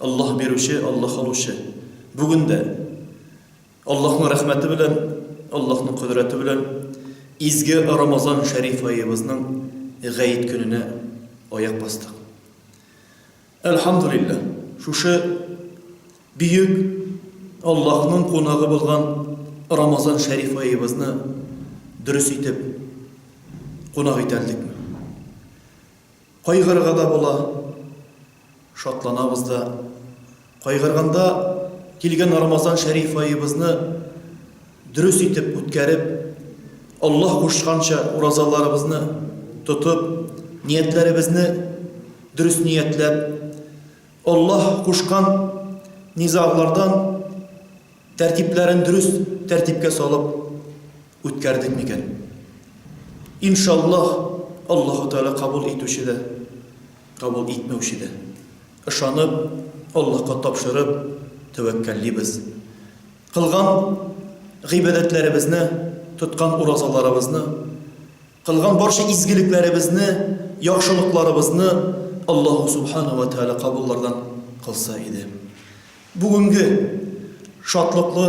Аллаһ бирүче, Аллаһ алучы. Бүген дә Аллаһның рәхмәте белән, Аллаһның кодрәте белән изге Рамазан шәриф аебызның гаит көненә аяк бастык. Әлхамдулиллаһ, шушы бөек Аллаһның кунагы булган Рамазан шәриф аебызны дөрес итеп кунак итәлдек. Кайгырырга да була, шатланабыз да. Кайгырганда, килгән Рамазан шәриф аебызны дөрес итеп үткәреп, Аллаһ кушканча уразаларыбызны тотып, ниятләребезне дөрес ниятләп, Аллаһ кушкан низаглардан тәртипләрен дөрес тәртипкә салып, Үткәрдек микән? Иншаллаһ, Аллаһу Тәгалә кабул итүче дә, кабул итмәүче дә. Ышанып, Аллаһка тапшырып, тәвәккәллибез. Кылган гыйбадәтләребезне, тоткан уразаларыбызны, кылган барча изгелекләребезне, яхшылыкларыбызны Аллаһу Субхана ва Тәгалә кабуллардан кылса иде. Бүгенге шатлыклы